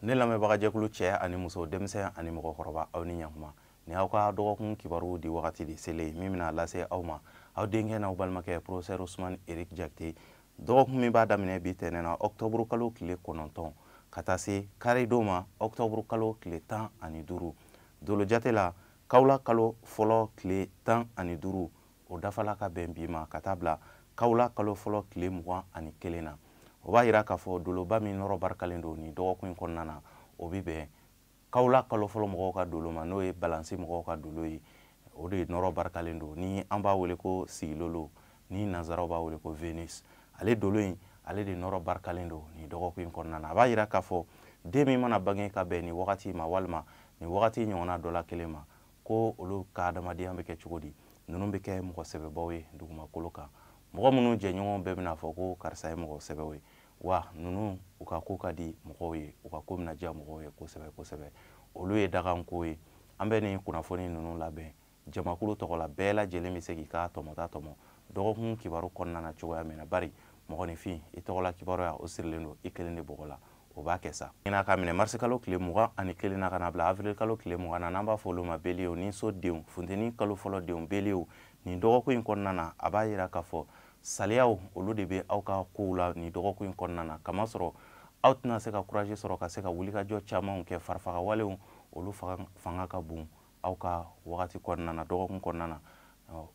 ne lamɛnbagajɛkulu cɛ ani muso denmisɛn ani mɔgɔkɔrɔba aw ni ɲakuma ni aw ka dɔgɔkun kibaruw di wagati de selen min bɛna lase aw ma aw denkɛ n'aw balimakɛ professeur usman erik jakite dɔgɔkun min b'a daminɛ bi tɛnɛn na ɔktɔburu kalo tile kɔnɔntɔn ka taa se kari don ma ɔktɔburu kalo tile tan ani duuru dolo jate la kawla kalo fɔlɔ tile tan ani duuru o dafala ka bɛn bi ma ka taa bila kawla kalo fɔlɔ tile mugan ani kelen na o b'a yira k'a fɔ doloba min nɔrɔ barikalen don nin dɔgɔkun in kɔnɔna na o bɛ bɛn kawla kalo fɔlɔ mɔgɔw ka dolo ma n'o ye balansi mɔgɔw ka dolo ye o de nɔrɔ barikalen don ni an b'a wele ko sigilolo ni nanzaraw b'a wele ko venus ale dolo in ale de nɔrɔ barikalen don nin dɔgɔkun in kɔnɔna na a b'a yira k'a fɔ den min mana bange ka bɛn nin wagati ma walima nin wagati ɲɔgɔnna dɔ la kelen ma ko olu ka adamadenya bɛ kɛ cogo di ninnu bɛ kɛ mɔgɔ sɛbɛbaw ye dugumakolo kan mɔgɔ minnu jɛɲɔgɔn bɛɛ bɛna fɔ ko karisa ye mɔgɔ sɛbɛw ye wa ninnu u ka ko ka di mɔgɔw ye u ka ko bɛna diya mɔgɔw ye kosɛbɛ kosɛbɛ olu ye daganko ye an bɛ nin kunnafoni ninnu labɛn jamakulu tɔgɔ la bɛɛ lajɛlen bɛ se k'i ka tɔmɔta tɔmɔ dɔgɔkun kibaru kɔnɔna na cogoya min na bari mɔgɔninfin i tɔgɔla kibaruya o sirilen don i kelen de bɔgɔ la o b'a kɛ sa n'a ka minɛ marisi kalo tile mugan ani kelen na ka n'a bila avril kalo tile mugan na n'an b'a fɔ olu ma beliyew niso denw funteni kalo fɔlɔ denw beliyew nin dɔgɔkun in kɔnɔna na a b'a yira k'a fɔ saliyaw olu de bɛ aw ka kow la nin dɔgɔkun in kɔnɔna na kamasɔrɔ aw tɛna se ka kuraje sɔrɔ ka se ka wulikajɔ camanw kɛ farifagawalew olu fanga ka bon aw ka wagati kɔnɔna na dɔgɔkun kɔnɔna na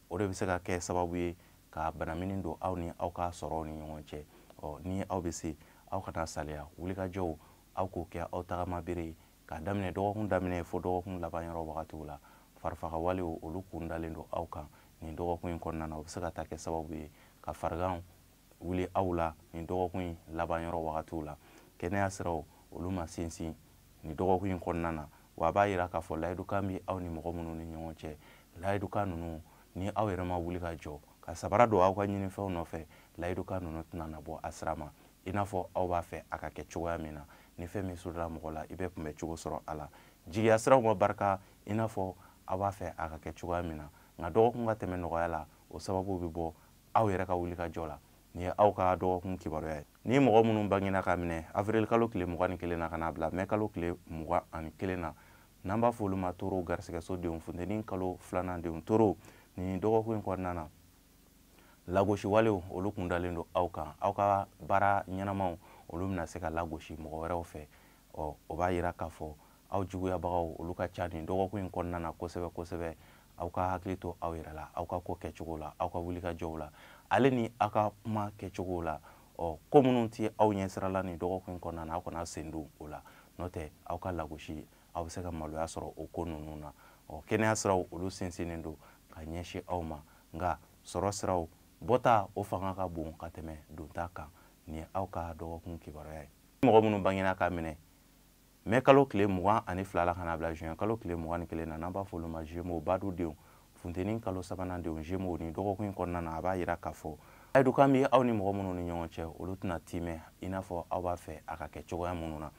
o de bɛ se ka kɛ sababu ye ka banamini don aw ni aw ka sɔrɔw ni ɲɔgɔn cɛ ɔ ni aw bɛ se aw kana saliya wulikajɔw aw k'o kɛ aw tagamabere ye k'a daminɛ dɔgɔkun daminɛ fo dɔgɔkun laban yɔrɔ wagatiw la farifagawalew olu kun dalen don aw kan nin dɔgɔkun in kɔnɔna na o bɛ se ka taa kɛ sababu ye ka fariganw wuli aw la nin dɔgɔkun in laban yɔrɔ wagatiw la kɛnɛya siraw olu ma sinsin nin dɔgɔkun in kɔnɔna na wa a b'a yira k'a fɔ layidukan bɛ aw ni mɔgɔ minnu ni ɲɔgɔn cɛ layidukan ninnu ni aw yɛrɛ ma wuli ka jɔ ka sabara don aw ka ɲinifɛnw nɔfɛ layidukan ninnu tɛna na bɔ a sira ma i n'a fɔ aw b'a fɛ a ka kɛ cogoya min na ni fɛn min surula mɔgɔ la i bɛ kunbɛ cogo sɔrɔ a la jigiya siraw ma barika i n'a fɔ aw b'a fɛ a ka kɛ cogoya min na nka dɔgɔkun ka tɛmɛ nɔgɔya la o sababu bɛ bɔ aw yɛrɛ ka wulikajɔ la nin ye aw ka dɔgɔkun kibaruya ye ni mɔgɔ minnu bangena ka minɛ avril kalo tile mugan ni kelen na ka n'a bila mɛ kalo tile mugan ani kelen na n'an b'a fɔ olu ma toro garisɛgɛso denw funteni kalo filanan denw toro nin dɔgɔkun in kɔnɔna na lagosi walew olu kun dalen don aw kan aw ka baara ɲɛnamaw olu bɛna se ka lagosi mɔgɔ wɛrɛw fɛ ɔ o b'a yira k'a fɔ aw juguyabagaw olu ka ca nin dɔgɔkun in kɔnɔna na kosɛbɛ kosɛbɛ aw ka hakili to aw yɛrɛ la aw ka ko kɛcogo la aw ka wulikajɔw la ale ni aw ka kuma kɛcogo la ɔ ko minnu tɛ aw ɲɛsirala nin dɔgɔkun in kɔnɔna na aw kana sen don o la n'o tɛ aw ka lagosi aw bɛ se ka maloya sɔrɔ o ko ninnu na ɔ kɛnɛya siraw olu sinsinnen don ka ɲɛsin aw ma nka sɔrɔ siraw bɔta o fanga ka bon ka tɛmɛ donta kan nin ye aw ka dɔgɔkun kibaruya ye mɔgɔ minnu bangena k'a minɛ mɛ kalo tile mugan ani fila la ka na bila juin kalo tile mugan ni kelen na n'an b'a fɔ olu ma zemo badu denw funteni kalo sabanan denw zemo nin dɔgɔkun kɔnɔna na a b'a yira k'a fɔ layidukan bɛ aw ni mɔgɔ minnu ni ɲɔgɔn cɛ olu tɛna timɛ i n'a fɔ aw b'a fɛ a ka kɛ cogoya minnu na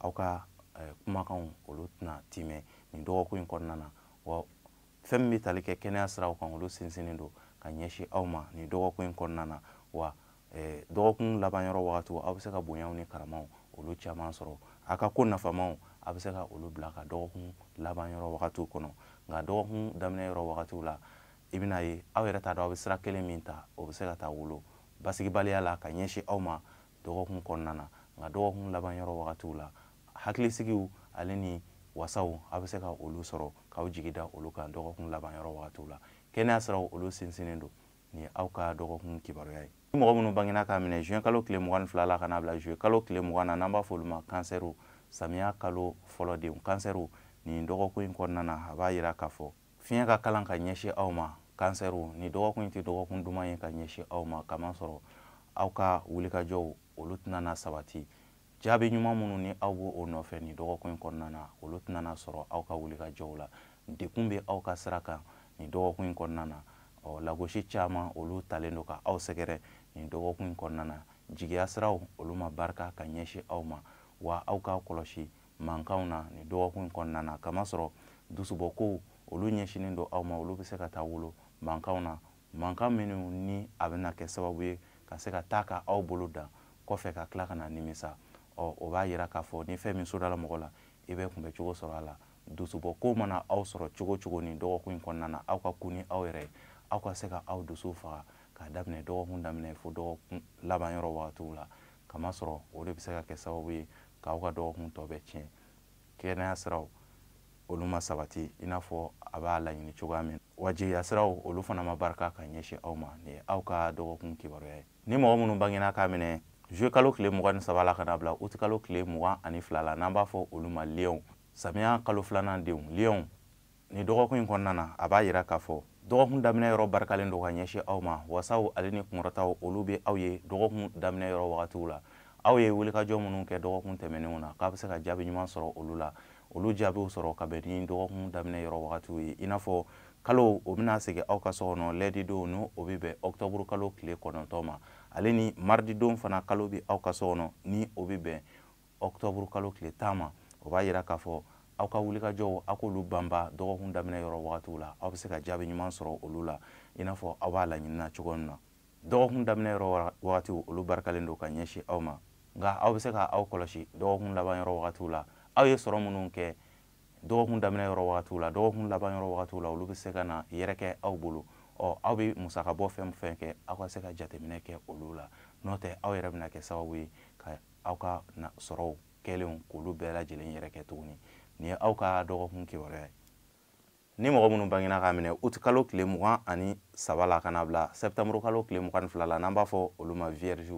aw ka eh, kumakanw olu tɛna timɛ nin dɔgɔkun in kɔnɔna na wa fɛn min bɛ tali kɛ kɛnɛya siraw kan olu sinsinnen don ka ɲɛsin aw ma nin dɔgɔkun in kɔnɔna na wa eh, dɔgɔkun laban yɔrɔ wagatiw aw bɛ se ka bonyaw ni karamaw olu caman sɔrɔ a ka ko nafamaw a bɛ se ka olu bila ka dɔgɔkun laban yɔrɔ wagatiw kɔnɔ nka dɔgɔkun daminɛ yɔrɔ wagatiw la i bɛna ye aw yɛrɛ t'a dɔn aw bɛ sira kelen min ta o bɛ se ka taa wolo basigibaliya la ka ɲɛsin aw ma dɔgɔkun kɔnɔna na nka dɔgɔkun laban yɔrɔ wagatiw la hakilisigiw ale ni wasaw a bɛ se ka olu sɔrɔ k'aw jigi da olu kan dɔgɔkun laban yɔrɔ wagatiw la kɛnɛya siraw olu sinsinnen don nin ye aw ka dɔgɔkun kibaruya ye ni mɔgɔ minnu bangena k'a minɛ juin kalo tile mugan ni fila la ka n'a bila juillet kalo tile mugan na n'an b'a fɔ olu ma kansɛriw samiya kalo fɔlɔ denw kansɛriw nin dɔgɔkun in kɔnɔna na a b'a yira k'a fɔ fiɲɛ ka kalan ka ɲɛsin aw ma kansɛriw nin dɔgɔkun in tɛ dɔgɔkun duman ye ka ɲɛsin aw ma kamasɔrɔ aw ka wulikajɔw olu tɛna na sabati jaabi ɲuman minnu ni aw b'o nɔfɛ nin dɔgɔkun in kɔnɔna na olu tɛna na sɔrɔ aw ka wulikajɔw la dekun bɛ aw ka sira kan nin dɔgɔkun in kɔnɔna na ɔ lagosi caman olu talen don ka aw sɛgɛrɛ nin dɔgɔkun in kɔnɔna na jigiya siraw olu ma barika ka ɲɛsin aw ma wa aw k'a kɔlɔsi mankanw na nin dɔgɔkun in kɔnɔna na kamasɔrɔ dusubɔkow olu ɲɛsinnen don aw ma olu bɛ se ka taa wolo mankanw na mankan minnu ni a bɛna kɛ sababu ye ka se ka taa ka aw bolo dan kɔfɛ ka tila ka na nimisa ɔ o b'a yira k'a fɔ ni fɛn min sodala mɔgɔ la i bɛ kunbɛ cogo sɔrɔ a la dusubɔ ko mana aw sɔrɔ cogo o cogo nin dɔgɔkun in kɔnɔna na aw ka kun ni aw yɛrɛ ye aw ka se ka aw dusu faga k'a daminɛ dɔgɔkun daminɛ fo dɔgɔkun laban yɔrɔ wagatiw la kamasɔrɔ o de bɛ se ka kɛ sababu ye k'aw ka dɔgɔkun tɔ bɛɛ tiɲɛ kɛnɛya siraw olu ma sabati i n'a fɔ a b'a laɲini cogoya min wa jigiya siraw olu fana ma barika ka ɲɛsin aw ma nin ye aw ka dɔgɔkun kibaruya ye ni mɔgɔ minnu bangena k'a minɛ juillet kalo tile mugan ni saba la ka na bila uti kalo tile mugan ani fila la n'an b'a fɔ olu ma liyɔnw samiya kalo filanan denw liyɔnw nin dɔgɔkun in kɔnɔna na a b'a yira k'a fɔ dɔgɔkun daminɛ yɔrɔ barikalen don ka ɲɛsin aw ma wasaw ale ni kunkɔrɔtaw olu bɛ aw ye dɔgɔkun daminɛ yɔrɔ wagatiw la aw ye wulikajɔ minnu kɛ dɔgɔkun tɛmɛnenw na k'a bɛ se ka jaabi ɲuman sɔrɔ olu la olu jaabiw sɔrɔ ka bɛn ni dɔgɔkun daminɛ yɔrɔ wagatiw ye i n'a fɔ kalo o bɛna segin aw ka so kɔnɔ lɛdidon ni o bɛ bɛn ɔkutɔburu kalo tile kɔnɔntɔn ma ale ni marididon fana kalo bɛ aw ka so kɔnɔ ni o bɛ bɛn ɔktɔburu kalo tile tan ma o b'a yira k'a fɔ aw ka wulikajɔw aw k'olu banban dɔgɔkun daminɛ yɔrɔ wagatiw la aw bɛ se ka jaabi ɲuman sɔrɔ olu la i n'a fɔ aw b'a laɲinina cogo min na dɔgɔkun daminɛ yɔrɔ wagatiw olu barikalen don ka ɲɛsin aw ma nka aw bɛ se ka aw kɔlɔsi dɔgɔkun laban yɔrɔ wagatiw la aw ye sɔrɔ minnu kɛ dɔgɔkun daminɛ yɔrɔ wagatiw la dɔgɔkun laban yɔrɔ wagatiw la olu bɛ se ka na yɛrɛkɛ aw bolo ɔ aw bɛ musakabɔ fɛn fɛn kɛ aw ka se ka jateminɛ kɛ olu la n'o tɛ aw yɛrɛ bɛna kɛ sababu ye ka aw ka sɔrɔw kɛlenw k'olu bɛɛ lajɛlen yɛrɛkɛ tuguni nin ye aw ka dɔgɔkun kibaruya ye ni mɔgɔ minnu bangena k'a minɛ uti kalo tile mugan ani saba la ka na bila sɛptanburu kalo tile mugan ni fila la n'an b'a fɔ olu ma vierge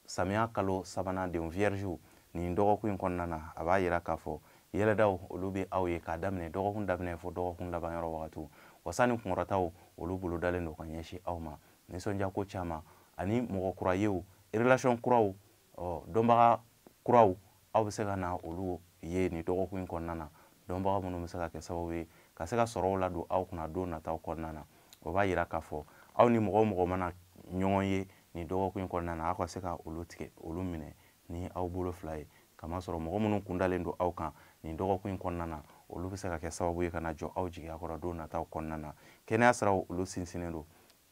samiya kalo sabanan denw vierge nin dɔgɔkun in kɔnɔna na a b'a yira k'a fɔ yɛlɛdaw olu bɛ aw ye k'a daminɛ dɔgɔkun daminɛ fo dɔgɔkun laban yɔrɔ wagatiw wasa ni kunkɔrɔtaw olu bolodalen don ka ɲɛsin aw ma nisɔndiyako caman ani mɔgɔ kura yew relation kuraw ɔ dɔnbaga kuraw aw bɛ se ka na olu ye nin dɔgɔkun in kɔnɔna na dɔnbaga minnu bɛ se ka kɛ sababu ye ka se ka sɔrɔw ladon aw kunna don nataw kɔnɔna na o b'a yira k'a fɔ aw ni mɔgɔ o mɔgɔ mana ɲɔgɔn ye nin dɔgɔkun in kɔnɔna na aw ka se ka olu tigɛ olu minɛ ni aw bolo fila ye kamasɔrɔ mɔgɔ minnu kundalen don aw kan nin dɔgɔkun in kɔnɔna na olu bɛ se ka kɛ sababu ye ka na jɔ aw jigiya kɔrɔ don nataw kɔnɔna na kɛnɛya siraw olu sinsinnen don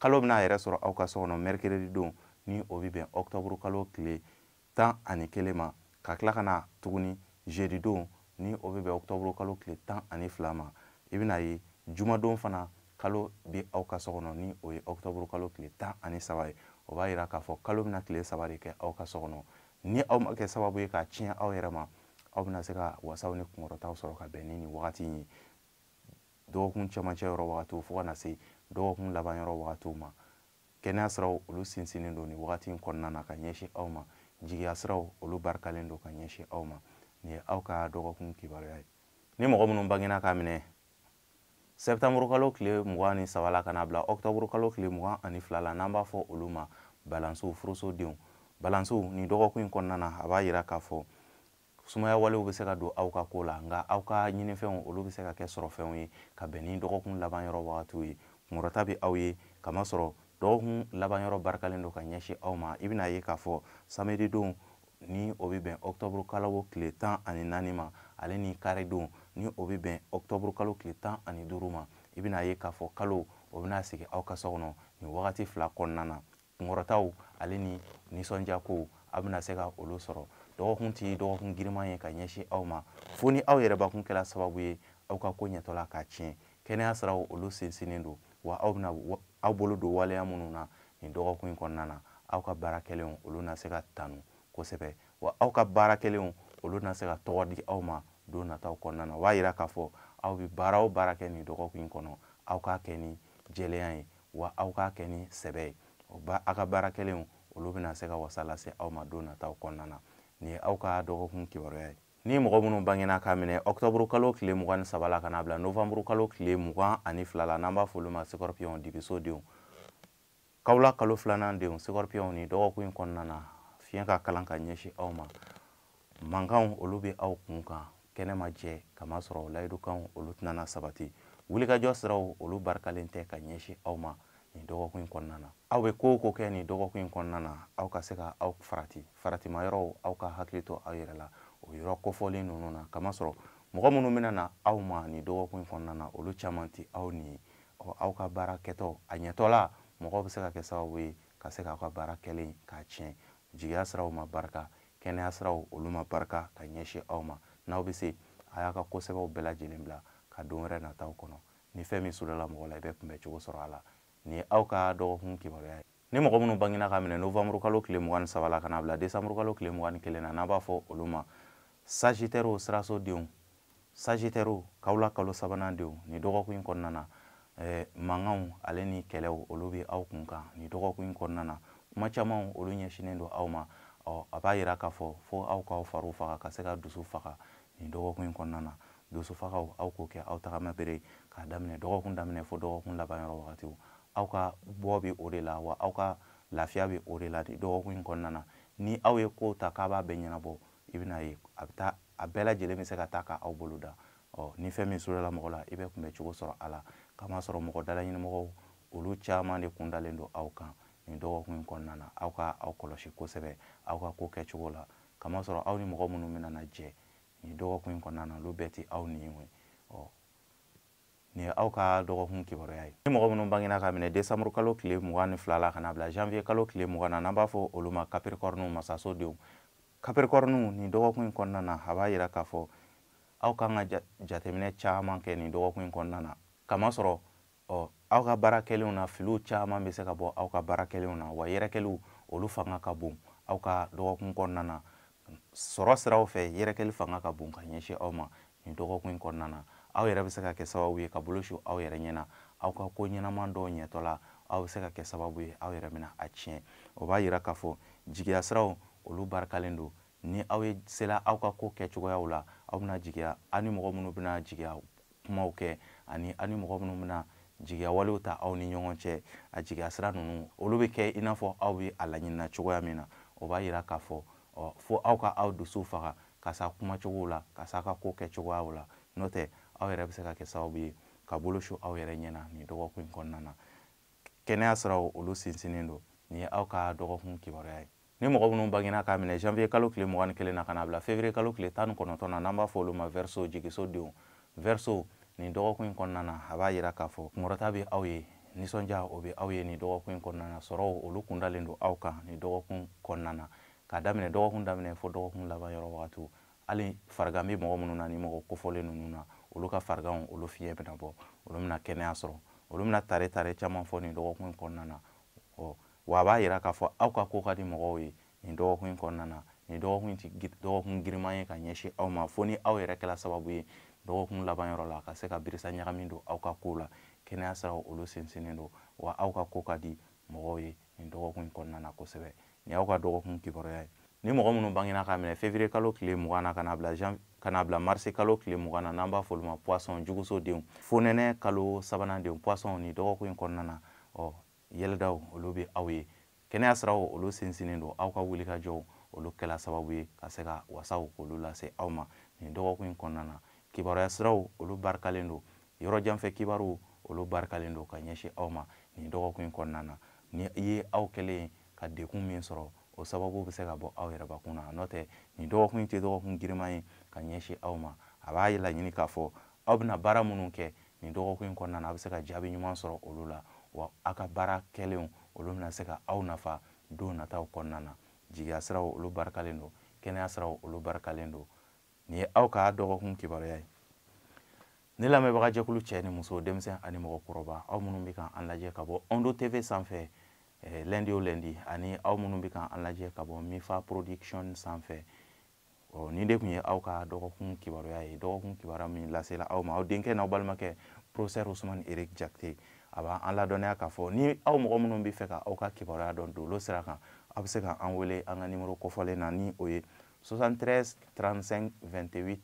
kalo bɛna a yɛrɛ sɔrɔ aw ka so kɔnɔ mɛrikiredi don ni o bɛ bɛn ɔkutɔburu kalo tile tan ani kelen ma ka tila ka na tuguni zedi don ni o bɛ bɛn ɔkutɔburu kalo tile tan ani fila ma i bɛna a ye jumadon fana kalo bɛ aw ka so kɔnɔ ni o ye ɔkutɔburu kalo tile tan ani saba ye o b'a yira k'a fɔ kalo bɛna tile saba de kɛ aw ka so kɔnɔ ni aw ma kɛ sababu ye k'a tiɲɛ aw yɛrɛ ma aw bɛna se ka wasaw ni kunkɔrɔtaw sɔrɔ ka bɛn ni nin wagati in ye dɔgɔkun cɛmancɛ yɔrɔ wagatiw fo ka na se dɔgɔkun laban yɔrɔ wagatiw ma kɛnɛya siraw olu sinsinnen don nin wagati in kɔnɔna na ka ɲɛsin aw ma jigiya siraw olu barikalen don ka ɲɛsin aw ma nin ye aw ka dɔgɔkun kibaruya ye ni mɔgɔ minnu bangena k'a minɛ sɛptanburu kalo tile mugan ni saba la ka na bila ɔktɔburu kalo tile mugan ani fila la n'an b'a fɔ olu ma balansiw furusodenw balansiw nin dɔgɔkun in kɔnɔna na a b'a yira k'a fɔ sumaya walew bɛ se ka don aw ka ko la nka aw ka ɲinifɛnw olu bɛ se ka kɛ sɔrɔfɛnw ye ka bɛn ni dɔgɔkun laban yɔrɔ wagatiw ye kunkɔrɔta bɛ aw ye kamasɔrɔ dɔgɔkun laban yɔrɔ barikalen don ka ɲɛsin aw ma i bɛna ye k'a fɔ samedidon ni o bɛ bɛn ɔkutɔburu kalo tile tan ani naani ma ale ni karidon ni o bɛ bɛn ɔkutɔburu kalo tile tan ani duuru ma i bɛna ye k'a fɔ kalo o bɛna sigi aw ka so kɔnɔ nin wagati fila kɔnɔna na kunkɔrɔtaw ale ni nisɔndiya kow aw bɛna se ka olu sɔrɔ dɔgɔkun tɛ dɔgɔkun giriman ye ka ɲɛsin aw ma fo ni aw yɛrɛbakun kɛra sababu ye aw ka ko ɲɛtɔla k'a tiɲɛ kɛnɛya siraw olu sinsinnen don wa aw bɛna aw bolo don waleya minnu na nin dɔgɔkun in kɔnɔna na aw ka baara kɛlenw olu na se ka tanu kosɛbɛ wa aw ka baara kɛlenw olu na se ka tɔgɔ di aw ma don nataw kɔnɔna na o b'a yira k'a fɔ aw bɛ baara o baara kɛ nin dɔgɔkun in kɔnɔ aw k'a kɛ ni jɛlenya ye wa aw k'a kɛ ni sɛbɛ ye aw ka baara kɛlenw olu bɛna se ka wasa lase aw ma don nataw kɔnɔna na nin ye aw ka dɔgɔkun kibaruya ye ni mɔgɔ minnu bangena k'a minɛ ɔkutɔburu kalo tile mugan ni saba la ka n'a bila novanburu kalo tile mugan ani fila la n'an b'a fɔ olu ma sikɔrɔpiyɔn dibiso denw kawula kalo filanan denw sikɔrɔpiyɔnw nin dɔgɔkun in kɔnɔna na fiɲɛ ka kalan ka ɲɛsin aw ma mankanw olu bɛ aw kun kan kɛnɛ ma jɛ kamasɔrɔ layidukanw olu tɛna sabati wulikajɔ siraw olu barikalen tɛ ka ɲɛsin aw ma nin dɔgɔkun in kɔnɔna na aw bɛ ko o ko kɛ nin dɔgɔkun in kɔnɔna na aw ka se ka aw farati faratima yɔrɔw aw ka hakili to aw yɛrɛ la o yɔrɔ kofɔlen ninnu na kamasɔrɔ mɔgɔ minnu bɛna na aw ma nin dɔgɔkun in kɔnɔna na olu caman tɛ aw ɲin ye ɔ aw ka baara kɛtɔ a ɲɛtɔla mɔgɔw bɛ se ka kɛ sababu ye ka se k'aw ka baara kɛlen k'a tiɲɛ jigiya siraw ma barika kɛnɛya siraw olu ma barika ka ɲɛsin aw ma n'aw bɛ se a y'a ka ko sɛbɛw bɛɛ lajɛlen bila ka don wɛrɛ nataw kɔnɔ ni fɛn min sudala mɔgɔ la i bɛ kunbɛ cogo sɔrɔ a la nin ye aw ka dɔgɔkun kibaruya ye ni mɔgɔ minnu bangina k'a minɛ novembre kalo tile mugan ni saba la ka n'a bila décembre kalo tile mugan ni kelen na n'an b'a fɔ olu ma sagitɛriw sirasodenw sagitɛriw kawula kalo sabanan denw nin dɔgɔkun in kɔnɔna na eh, mankanw ale ni kɛlɛw olu bɛ aw kun kan nin dɔgɔkun in kɔnɔna na kuma camanw olu ɲɛsinnen don aw ma ɔ a b'a yira k'a fɔ fo aw k'aw fariw faga ka se ka dusu faga nin dɔgɔkun in kɔnɔna na dusu fagaw aw k'o kɛ aw tagama bere k'a daminɛ dɔgɔkun daminɛ fo dɔgɔkun laban yɔrɔ wagatiw aw ka bɔ bɛ o de la wa aw ka lafiya bɛ o de la nin dɔgɔkun in kɔnɔna na ni aw ye kow ta k'a b'a bɛɛ ɲɛnabɔ i bɛna ye a bɛ taa a bɛɛ lajɛlen bɛ se ka taa ka aw bolo dan ɔ ni fɛn min sudala mɔgɔ la i bɛ kunbɛ cogo sɔrɔ a la kamasɔrɔ mɔgɔ dalaɲinimɔgɔw olu caman de kun dalen don aw kan nin dɔgɔkun in kɔnɔna na aw ka aw kɔlɔsi kosɛbɛ aw ka ko kɛcogo la kamasɔrɔ aw ni mɔgɔ minnu bɛna na jɛ nin dɔgɔkun in kɔnɔna na olu bɛɛ tɛ aw ɲin ye ɔ nin ye aw ka dɔgɔkun kibaruya ye ni mɔgɔ minnu bangena k'a minɛ décembre kalo tile mugan ni fila la ka na bila janvier kalo tile mugan na n'an b'a fɔ olu ma capricorne masaso denw capricorne nin dɔgɔkun in kɔnɔna na a b'a yira k'a fɔ aw kan ka jateminɛ caman kɛ nin dɔgɔkun in kɔnɔna na kamasɔrɔ ɔ aw ka baara kɛlenw na filiw caman bɛ se ka bɔ aw ka baara kɛlenw na wa yɛrɛkɛliw olu fanga ka bon aw ka dɔgɔkun kɔnɔna na sɔrɔ siraw fɛ yɛrɛkɛli fanga ka bon ka ɲɛsin aw ma nin dɔgɔkun in kɔnɔna na aw yɛrɛ bɛ se ka kɛ sababu ye ka bolo su aw yɛrɛ ɲɛ na aw ka ko ɲɛnama dɔw ɲɛtɔ la aw bɛ se ka kɛ sababu ye aw yɛrɛ bɛna a tiɲɛ o b'a yira k'a fɔ jigiya siraw olu barikalen don ni aw ye sela aw ka ko kɛcogoyaw la aw bɛna jigiya aw ni mɔgɔ minnu bɛna jigiya kumaw kɛ ani aw ni mɔgɔ minnu bɛna jigiya walew ta aw ni ɲɔgɔn cɛ a jigiya sira ninnu olu bɛ kɛ i n'a fɔ aw bɛ a laɲinina cogoya min na o b'a yira k'a fɔ fo aw ka aw dusu faga ka s'a kumacogow la ka s'a ka ko kɛcogoyaw la n'o tɛ aw yɛrɛ bɛ se ka kɛ sababu ye ka bolo su aw yɛrɛ ɲɛ na nin dɔgɔkun in kɔnɔna na kɛnɛya siraw olu sinsinnen don nin ye aw ka dɔgɔkun kibaruya ye ni mɔgɔ minnu bangena k'a minɛ janvier kalo tile mugan ni kelen na ka na bila février kalo tile tan ni kɔnɔntɔn na n'an b'a fɔ olu ma verseau jigiso denw verseau nin dɔgɔkun in kɔnɔna na a b'a yira k'a fɔ kunkɔrɔta bɛ aw ye nisɔndiya o bɛ aw ye nin dɔgɔkun in kɔnɔna na sɔrɔw olu kun dalen don aw kan nin dɔgɔkun kɔnɔna na k'a daminɛ dɔgɔkun daminɛ fo dɔgɔkun laban yɔrɔ wagatiw hali farigan bɛ mɔgɔ minnu na ni mɔgɔ kofɔlen ninnu na olu ka fariganw olu fiɲɛ bɛna bɔ olu bɛna kɛnɛya sɔrɔ olu bɛna tare tare caman fɔ nin dɔgɔkun in kɔnɔna na ɔ wa a b'a yira k'a fɔ aw ka ko ka di mɔgɔw ye nin dɔgɔkun in kɔnɔna na nin dɔgɔkun tɛ dɔgɔkun giriman ye ka ɲɛsin aw ma fo ni aw yɛrɛ kɛra sababu ye dɔgɔkun laban yɔrɔ la ka se ka birisa ɲagami don aw ka kow la kɛnɛya siraw olu sinsinnen don wa aw ka ko ka di mɔgɔw ye nin dɔgɔkun in kɔnɔna na kosɛbɛ nin y'aw ka dɔgɔkun kibaruya ye ni mɔgɔ minnu bangena k'a minɛ février kalo tile mugan na ka na bila jan ka na bila mars kalo tile mugan na n'an b'a f'olu ma poisson juguso denw fonɛnɛ kalo sabanan denw poisson nin dɔgɔkun in kɔnɔna na ɔ yɛlɛdaw olu bɛ aw ye kɛnɛya siraw olu sinsinnen don aw ka wulikajɔw olu kɛla sababu ye ka se ka wasaw k'olu lase aw ma nin dɔgɔkun in kɔnɔna na kibaruya siraw olu barikalen don yɔrɔ jan fɛ kibaruw olu barikalen don ka ɲɛsin aw ma nin dɔgɔkun in kɔnɔna na ni i ye aw kɛlen ka degun min sɔrɔ o sababu bɛ se ka bɔ aw yɛrɛbakun na n'o tɛ nin dɔgɔkun in tɛ dɔgɔkun giriman ye ka ɲɛsin aw ma a b'a laɲini k'a fɔ aw bɛna baara minnu kɛ nin dɔgɔkun in kɔnɔna na a bɛ se ka jaabi ɲuman sɔrɔ olu la wa aw ka baara kɛlenw olu bɛna se ka aw nafa don nataw kɔnɔna na jigiya siraw olu barikalen don kɛnɛya siraw olu barikalen don nin ye aw ka dɔgɔkun kibaruya ye ne lamɛnbaga jɛkulu cɛ ni muso denmisɛn ani mɔgɔ kɔrɔba aw minnu bɛ ka an lajɛ ka bɔ ondo tv sanfɛ eh, lundi o lundi ani aw minnu bɛ ka an lajɛ ka bɔ mifa production sanfɛ ɔ nin de tun ye aw ka dɔgɔkun kibaruya ye dɔgɔkun kibaruya min lasela aw ma aw denkɛ n'aw balimakɛ professeur usumani eric jakite a b'aw ladɔnniya k'a fɔ ni aw mɔgɔ minnu bɛ fɛ ka aw ka kibaruya dɔn dolo sira kan aw bɛ se ka an wele an ka nimoro kofɔlen na ni o ye 73 35 28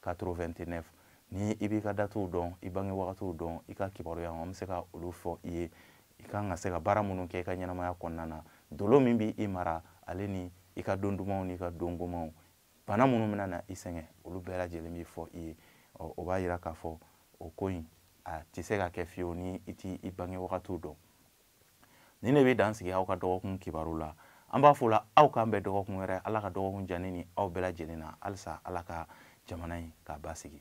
89 ni i b'i ka datuw dɔn i bange wagatiw dɔn i ka kibaruya an bɛ se ka olu fɔ i ye i kan ka se ka baara minnu kɛ i ka ɲɛnamaya kɔnɔna na dolo min bɛ i mara ale ni i ka don dumanw n'i ka don gomanw bana minnu bɛna na i sɛgɛn olu bɛɛ lajɛlen bɛ fɔ i ye o b'a yira k'a fɔ o ko in a tɛ se ka kɛ fiyewu ni i t'i i bange wagatiw dɔn nin de bɛ dan sigi aw ka dɔgɔkun kibaru la an b'a fɔ la aw k'an bɛn dɔgɔkun wɛrɛ ala ka dɔgɔkun diya ne ni aw bɛɛ lajɛlen na halisa ala ka jamana in k'a basigi